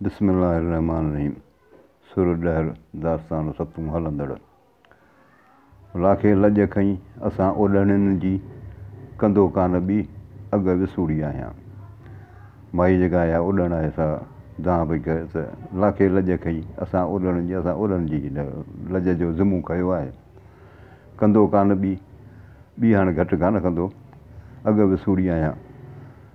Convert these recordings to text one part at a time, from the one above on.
بسم الله الرحمٰن الرحيم سر ڏهر داستان ستون هلندڙ لاکي لڄ کئي اسان اوڏهڻين جي ڪندو ڪانه ٻي اڳ وسوڙي آهيان مائي جيڪا اها اوڏهڻ آهي سا دانهن پئي ڪري ته لاکي لڄ کئي اسان اوڏهڻين جي اسان اوڏهڻين جي لڄ جو ذمو کنيو آهي ڪندو ڪانه ٻي ٻي هاڻي گهٽ ڪانه ڪندو اڳ وسوڙي آهيان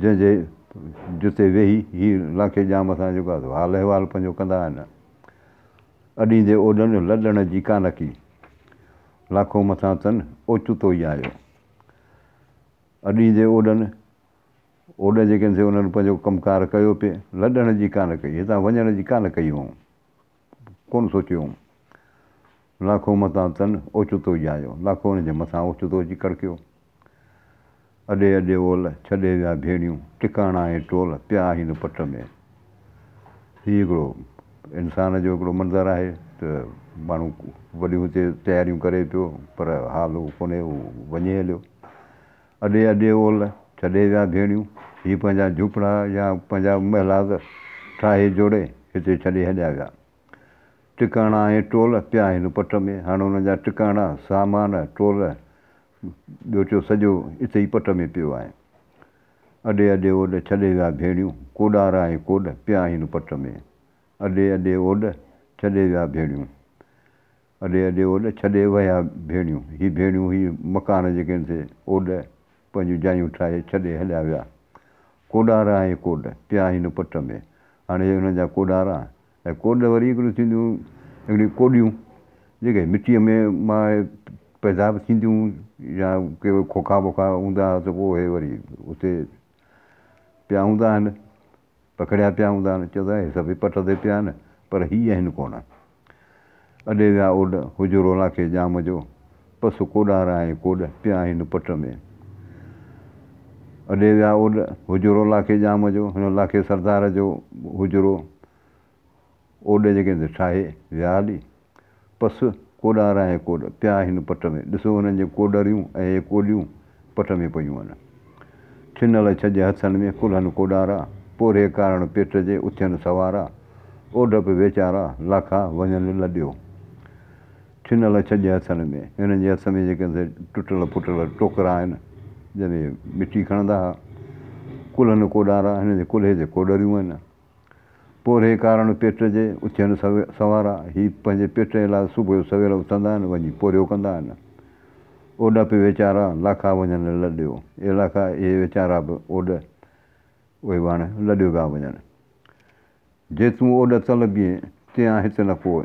جنهن جي جتي ويهي هي لانڪي ڄام سان جيڪو آهي حال احوال پنهنجو ڪندا آهن. اڏيندي اوڏن لڏڻ جي ڪا نڪي، لاکو مٿان تن اوچتو ئي آيو. اڏيندي اوڏن، اوڏ جيڪن سي انهن پنهنجو ڪم ڪار ڪيو پي، لڏڻ جي ڪا نه ڪئي، هتان وڃڻ جي ڪا نه ڪئي هئائون. ڪونه سوچيو هوم. لاکو متان تن اوچتو ئي آيو. لاکو ان جي مٿان اوچتو اچي ڪڙڪيو. اڏي اڏي اول، ڇڏي ويا ڀيڙيون، ٽڪاڻا ۽ ٽول، پيا آهين پٽ ۾. هي هڪڙو انسان جو هڪڙو منظر آهي ته ماڻهو وڏيون هتي تياريون ڪري پيو پر حال اهو ڪونهي، هو وڃي هليو. اڏي اڏي اولھ ڇڏي ويا ڌيڻيون ھي پنھنجا جھوپڙا يا پنھنجا محلات ٺاھي جوڙي ھتي ڇڏي ھليا ويا ٽڪاڻا ۽ ٽول پيا ھن پٽ ۾ ھاڻ انھن جا ٽڪاڻا سامان ٽول ٻيوچو سڄو اتي ئي پٽ ۾ پيو آھي اڏي اڏي اوڏ ڇڏي ويا ڀيڻيون ڪوڏار ۽ ڪوڏ پيا ھن پٽ ۾ اڏي اڏي اوڏ ڇڏي ويا ڀيڻيون اڏي اڏي اوڏ ڇڏي وهيا ڀيڻيون. هي ڀيڻيون هي مڪان جيڪي ان تي اوڏ پنهنجون جايون ٺاهي ڇڏي هليا ويا. ڪوڏارا ۽ ڪوڏ پيا هن پٽ ۾. هاڻي هي انهن جا ڪوڏارا ۽ ڪوڏ وري هڪڙيون ٿينديون هڪڙيون ڪوڏيون جيڪي مٽيء ۾ مان اهي پيدا به ٿينديون يا ڪي کوکا ووکا هوندا ها ته پوء اهي وري اتي پيا هوندا آهن. پکڙيا پيا هوندا آهن، چئو ٿا هي سڀئي پٽ تي پيا آهن، پر هي آهن ڪونه. اڏي ويا اوڏ، هجرو ناکي ڄام جو، پس ڪوڏار آهي ڪوڏ، پيا آهن پٽ ۾. اڏي ويا اوڏ، هجرو لاکي ڄام جو، هن لاکي سردار جو هجرو اوڏ جي ڪنڌ ٺاهي ويا هلي. پس ڪوڏا راهي ڪوڏ پيا هن پٽ ۾، ڏسو هنن جون ڪوڏريون ۽ اهي ڪوڏيون پٽ ۾ پيون هن. ٺنل ڇڄ هٿن ۾ ڪلهن ڪوڏارا، پورهيي ڪارڻ پيٽ جي اٿين سوارا، اوڍ پي ويچارا لاکا وڃن لڏيو. ٺنل ڇڄ هٿن ۾، هنن جي هٿ ۾ جي ڪنڌ ٽٽل ڦٽل ٽوڪرا آهن، جنهن ۾ مٽي کڻندا ها. ڪلهن ڪوڏارا، هنن جي ڪلهي تي ڪوڏريون آهن. پورهيي ڪاراڻو پيٽ جي اٿيڻ سوارا هي پنهنجي پيٽ جي لاء صبح جو سوير اٿندا آهن وڃي پورهيو ڪندا آهن. اوڏ پي ويچارا لاکا وڃن لڏيو اي لاکا اهي ويچارا به اوڏ اهي به هاڻي لڏيو پيا وڃن. جي تون اوڏ تل بيهين تيان هت نه پوء.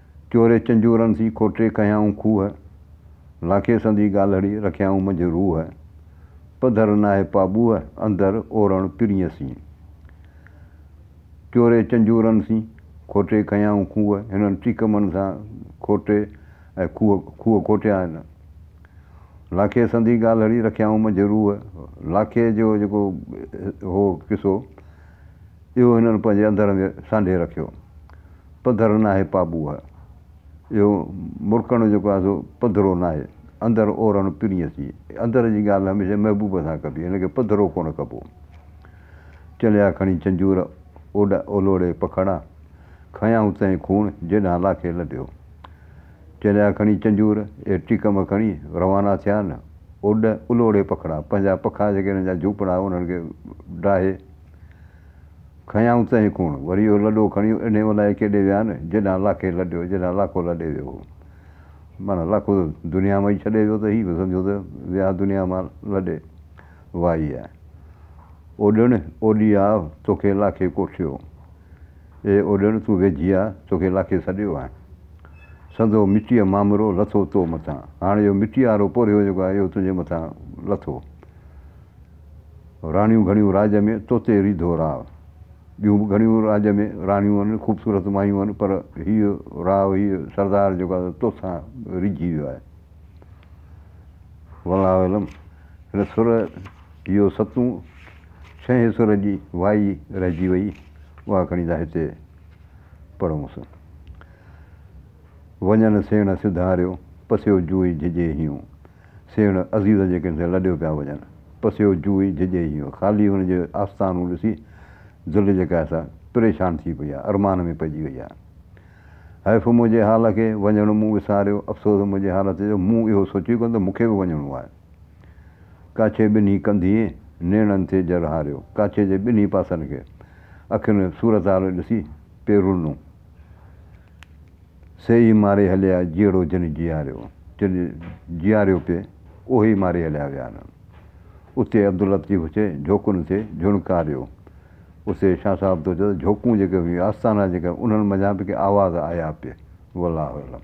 چوري چنجورن سين کوٽي ڪهيائون کوهه، لاکي سندي ڳالهڙي رکيائون منجهه روح، پڌر ناهي پاٻوهه اندر اورڻ پرينء سين. چوري چنجورن سين کوٽي ڪهيائون کوهه، هنن ٽيڪمن سان کوٽي ۽ کوهه کوهه کوٽيا آهن. لاکي سندي ڳالهڙي رکيائون منجهه روح، لاکي جو جيڪو هو قصو، اهو هنن پنهنجي اندر ۾ سانڍي رکيو. پڌر ناهي پاٻوهه، اهو مرڪڻ جو ڪو آڌو پڌرو ناهي. اندر اورڻ پرينء ٿي. اندر جي ڳالهه هميشه محبوب سان ڪبي، هن کي پڌرو ڪونه ڪبو. چليا کڻي چنجور، اوڏ اولوڙي پکڙا، کنيائون تنهين خون، جيڏانهن لاکي لڏيو. چليا کڻي چنجور، اهي ٽيڪم کڻي روانا ٿيا نه، اوڏ الوڙي پکڙا، پنهنجا پکا جيڪي هنن جا جهوپڙا انهن کي ڊاهي، کنيائون تنهن ڪوڻ، وري اهو لڏو کڻي اڏي الاهي ڪيڏي ويا آهن، جيڏانهن لاکي لڏيو، جيڏانهن لاکو لڏي ويو هو. معنيٰ لاکو ته دنيا مان ئي ڇڏي ويو ته هي به سمجهو ته ويا دنيا مان لڏي. وائي آء اوڏڻ، اوڏي آء توکي لاکي ڪوٺيو. اي اوڏڻ تون ويجهي آء توکي لاکي سڏيو آهي. سندو مٽيء مامرو لٿو تو مٿان. هاڻ اهو مٽيء وارو پورهيو جيڪو آهي اهو تنهنجي مٿان لٿو. راڻيون گهڻيون راڄ ۾، توتي ريڌو راء. ٻيون به گهڻيون راڄ ۾، راڻيون هن، خوبصورت مايون هن، پر هيء راء، هيء سردار جيڪو آهي، تو سان ريجهي ويو آهي. والله اعلم، هن سر يو ستون، ڇهين سر جي وائي رهجي وئي، اها کڻي ٿا هتي پڙهونس. وڃن سيڻ سڌاريو، پسيو جوئي جهجي هيون، سيڻ عزيزن جي ڪنڌين لڏيو پيا وڃن. پسيو جوئي جھڄي ھيون خالي ھن جي آستانون ڏسي دل جيڪا آھي سا پريشان ٿي پئي آھي ارمان ۾ پئجي وئي آھي. حيف منھنجي حال کي، وڃڻ مون وساريو، افسوس منھنجي حالت جو، مون اھو سوچي ڪونه ته مون کي به وڃڻو آھي. ڪاڇي ٻنھي ڪنڌين نيڻن تي جر ھاريو، ڪاڇي جي ٻنھي پاسن کي اکين صورتحال ڏسي پيرونون سي ئي ماري هليا جيئڙو جنھن جيئاريو. جنھن جيئاريو پي اهوئي ماري هليا ويا نه. اتي عبداللطيف اچي جھوڪن تي جھڻڪاريو. اتي شاھ صاحب تو چيو ته جھوڪون جيڪي هيون آستانا جيڪي انھن منجھان به ڪي آواز آيا پي. والله اعلم.